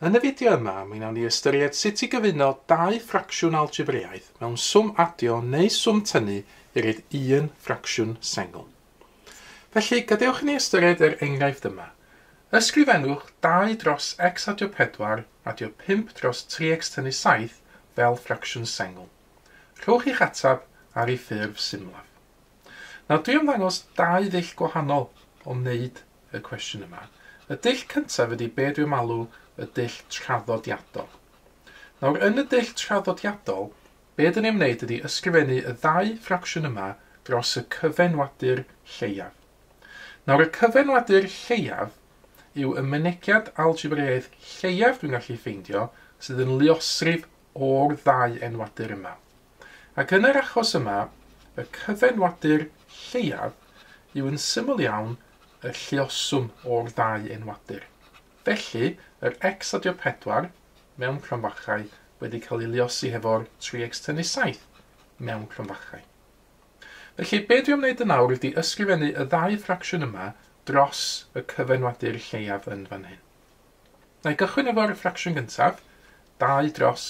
Yn y fideo yma, mi wnawn ni ystyried sut i gyfuno dau ffracsiwn algebreaidd mewn swm adio neu swm tynnu i roi'r un ffracsiwn sengl. Felly, gadewch i ni ystyried yr enghraifft yma. Ysgrifennwch 2 dros x adio 4 adio 5 dros 3x tynnu 7 fel ffracsiwn sengl. Rhowch i'ch ateb ar ei ffurf symlaf. Nawr, dwi am ddangos dau ddull gwahanol o wneud y cwestiwn yma. Y dull cyntaf ydy be dwi am alw y dull traddodiadol. Nawr, yn y dull traddodiadol, be dyn ni am wneud ydy ysgrifennu y ddau ffracsiwn yma dros y cyfenwadur lleiaf. Nawr, y cyfenwadur lleiaf yw y mynegiad algebreaidd lleiaf dwi'n gallu ffeindio sydd yn luosrif o'r ddau enwadur yma. Ac yn yr achos yma, y cyfenwadur lleiaf yw yn syml iawn y lluoswm o'r ddau enwadur. Felly, yr x adio 4, mewn cromfachau, wedi cael ei luosi hefo'r 3x tynnu 7, mewn cromfachau. Felly, be dwi am wneud yn nawr ydy ysgrifennu y ddau ffracsiwn yma dros y cyfenwadur lleiaf yn fan hyn. Na i gychwyn efo'r ffracsiwn gyntaf, 2 dros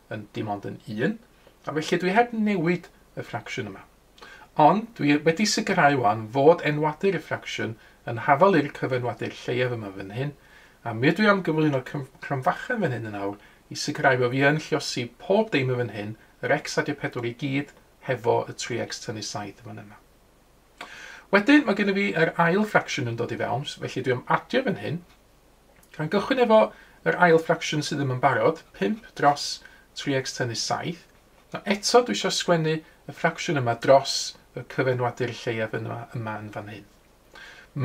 yn dim ond yn 1, a felly dwi heb newid y ffracsiwn yma. Ond dwi wedi sicrhau wan fod enwadur y ffracsiwn yn hafal i'r cyfenwadur lleiaf yma fan hyn, a mi ydw i am gyflwyno cromfachen fan hyn yn awr i sicrhau fo fi yn lliosi pob deiml fan hyn, yr x a'r pedwar i gyd, hefo y 3x tynnu 7 fan yna. Wedyn mae gen i fi yr ail ffracsiwn yn dod i fewn, felly dwi am adio fan hyn, Gan gychwyn efo yr ail ffracsiwn sydd ddim yn barod, 5 dros 3x tennis 7. Nawr eto dwi eisiau sgwennu y ffracsiwn yma dros y cyfenwadur lleiaf yma, yma yn fan hyn.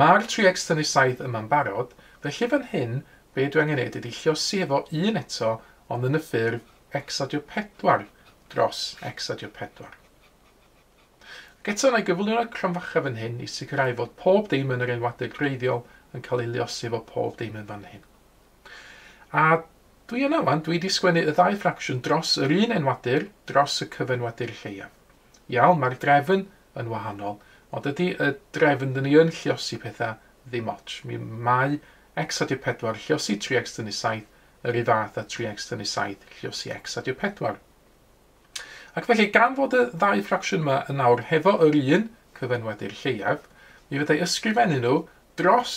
Mae'r 3x tennis 7 yma'n barod, felly fan hyn be dwi angen neud ydi lliosi efo 1 eto ond yn y ffurf x adio 4 dros x adio 4. Ac eto, mae gyflwyno'r cromfacha fan hyn i sicrhau fod pob dim yn yr enwadau gwreiddiol yn cael ei luosi efo pob dim yn fan hyn. A dwi yna wan, dwi wedi sgwennu y ddau ffracsiwn dros yr un enwadur, dros y cyfenwadur lleiaf. Iawn, mae'r drefn yn wahanol, ond dydy y drefn dyn ni yn lliosi pethau ddim otsh. Mi mae x adio 4 lliosi 3x tynnu 7 yr un fath a 3x tynnu 7 lliosi x adio 4. Ac felly, gan fod y ddau ffracsiwn yma yn awr hefo yr un cyfenwadur lleiaf, mi fydda i ysgrifennu nhw dros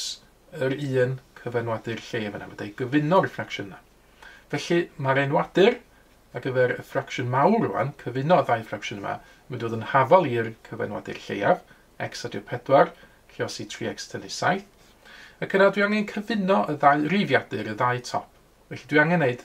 yr un cyfenwadur lleiaf yna, fydda i gyfuno'r ffracsiwn yna. Felly, mae'r enwadur ar gyfer y ffracsiwn mawr rwan, cyfuno y ddau ffracsiwn yma, yn mynd i fod yn hafal i'r cyfenwadur lleiaf, x adio 4, lle os i 3x tynnu 7. Ac yna dwi angen cyfuno y ddau rifiadur, y ddau top. Felly dwi angen gwneud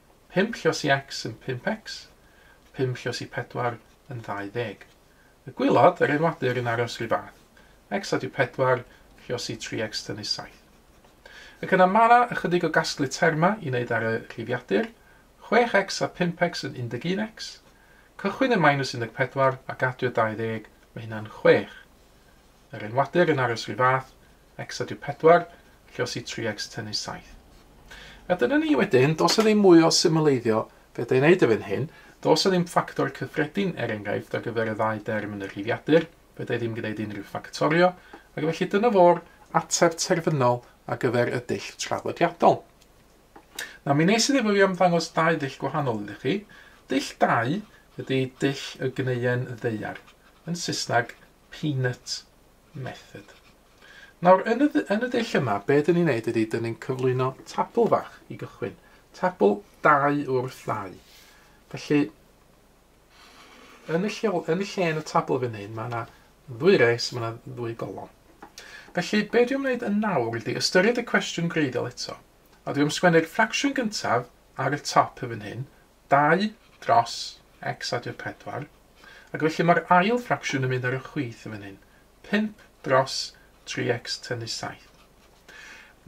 Pump llos i X yn pump X, pump llos i pedwar yn ddau ddeg. Y gwylod, yr enwadur, yn aros ry fath. X adio pedwar, llos i tri X tynnu saith. Ac yna ma' na ychydig o gasglu terma i neud ar y rhifiadur, chwech X a pump X yn un deg un X. Cychwyn yn minus un deg pedwar ac adio dau ddeg, ma' hynna'n chwech. Yr enwadur yn aros rhy fath, X a dyw 4, lle os i 3X tynnu 7. A dyna ni wedyn, dos 'na ddim mwy o symleiddio, fedra i wneud erbyn hyn, dos 'na ddim ffactor cyffredin er enghraifft ar gyfer y ddau derm yn y rhifiadur, fedra i ddim gwneud unrhyw ffactorio, ac felly dyna fo'r ateb terfynol ar gyfer y dull traddodiadol. Na, mi nes i ddim fi am ddangos dau ddull gwahanol iddo chi. Dull 2 ydy dull y gneuen ddeiar, yn Saesneg Peanut Method. Nawr, yn y, yn y dull yma, be dyn ni'n neud ydy, dyn ni'n cyflwyno tabl fach i gychwyn. Tabl dau wrth ddau. Felly, yn y lle, yn y, lle yn y tabl fan hyn, mae yna ddwy res, mae yna ddwy golon. Felly, be dwi'n gwneud yn nawr ydy ystyried y cwestiwn greiddiol eto. A dwi'n sgwennu'r ffracsiwn gyntaf ar y top y fan hyn, 2 dros x adio 4, ac felly mae'r ail ffracsiwn yn mynd ar y chwith yn fan hyn, 5 dros 3x tynnu 7.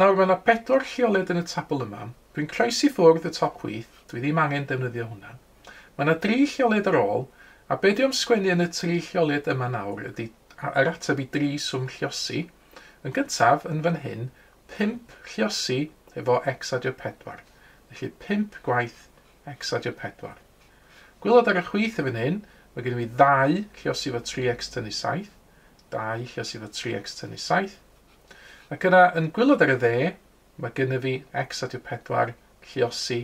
Nawr, mae yna bedwar lleoliad yn y tabl yma. Dwi'n croesi ffwrdd y top chwith, dwi ddim angen defnyddio hwnna. Mae yna dri lleoliad ar ôl, a be dwi am sgwennu yn y tri lleoliad yma nawr ydy yr ateb i dri swm lliosi. Yn gyntaf, yn fan hyn, Pump lluosi efo x adio pedwar, felly pump gwaith x adio pedwar. Gwylod ar y chwith yn fan hyn, mae gennym ni ddau lluosi efo tri x tynnu saith, dau lluosi efo tri x tynnu saith. Ac yna, yn gwylod ar y dde, mae gennym fi x adio pedwar lluosi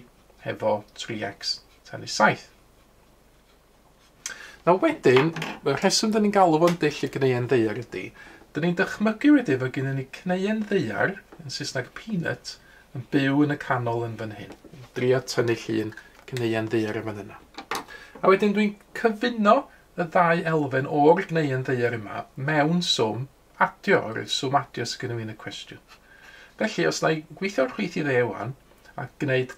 efo tri x tynnu saith. Nawr wedyn, y rheswm dyn ni'n galw fo'n dull y gneuen ddeiar ydy, dyn ni'n dychmygu wedyn fod gennym ni cneuen ddeiar, yn Saesneg peanut, yn byw yn y canol yn fan hyn. Drio tynnu llun cneuen ddeiar yn fan yna. A wedyn dwi'n cyfuno y ddau elfen o'r gneuen ddeiar yma mewn swm adio, o'r swm adio sydd gennym ni yn y cwestiwn. Felly, os na i gweithio'r chwyth i dde wan, a gwneud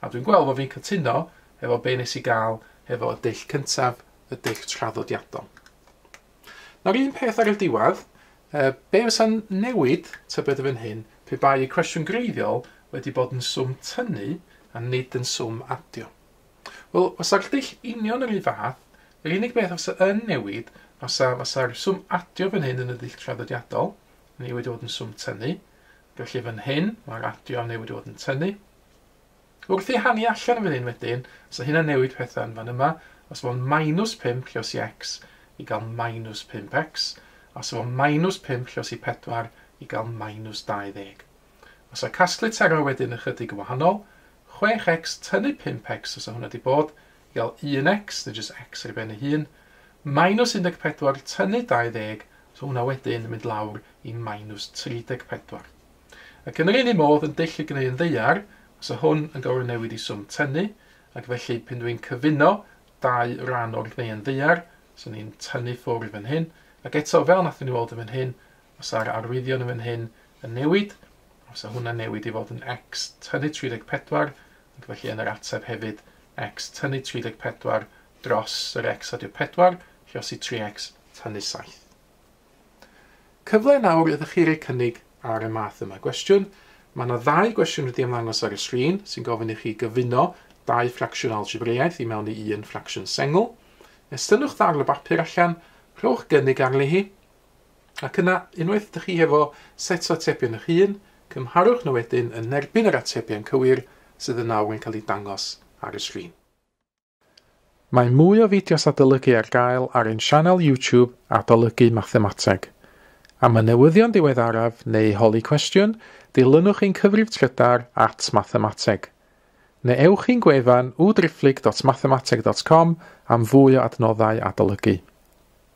A dwi'n gweld fod fi'n cytuno efo be nes i gael efo y dull cyntaf, y dull traddodiadol. Nawr un peth ar y diwedd, uh, be fysa'n newid tybed y fan hyn pe bai y cwestiwn greiddiol wedi bod yn swm tynnu a nid yn swm adio? Wel, fysa'r dull union yr un fath, yr unig beth fysa yn newid fysa, fysa'r swm adio fan hyn yn y dull traddodiadol, ni wedi bod yn swm tynnu, Felly fan hyn, mae'r radio newydd fod yn tynnu. Wrth ei hannu allan fan hyn wedyn, so hynna'n newid pethau yn fan yma. Os fo'n minus 5 llos i x i gael minus 5x. Os fo'n minus 5 llos i 4 i gael minus 20. Os o casglu terau wedyn ychydig yn wahanol, 6x tynnu 5x os o hwnna di bod, i gael un X, neu jyst X ar ei ben ei hun, minus 14 tynnu 20, so hwnna wedyn yn mynd lawr i minus 34. Ac yn yr un un modd yn dull y gnu yn ddeiar, fysa hwn yn gorfod newid i swm tynnu, ac felly pyn dwi'n cyfuno dau ran o'r gnu yn ddeiar, so ni'n tynnu ffwrdd yn hyn, ac eto fel nathon ni weld yn fan hyn, fysa'r arwyddion yn fan hyn yn newid, a fysa hwnna'n newid i fod yn X tynnu 34, ac felly yn yr ateb hefyd x tynnu 34 dros yr x a di'r 4, rheosi 3x tynnu 7. Cyfle nawr ydych chi roi cynnig ar y math yma gwestiwn. Mae yna ddau gwestiwn wedi ymddangos ar y sgrin sy'n gofyn i chi gyfuno dau ffracsiwn algebreiaeth i mewn i un ffracsiwn sengl. Estynnwch ddarn o bapur allan, rhowch gynnig arni hi, Ac yna, unwaith dych chi hefo set o atebion eich hun, cymharwch nhw wedyn yn erbyn yr atebion cywir sydd yn awr yn cael eu dangos ar y sgrin. Mae mwy o fideos adolygu ar gael ar ein sianel YouTube Adolygu Mathemateg. Am y newyddion diweddaraf neu i holi cwestiwn, dilynwch ein cyfrif trydar at Mathemateg. Neu ewch i'n gwefan www.driphlyg.mathemateg.com am fwy o adnoddau adolygu.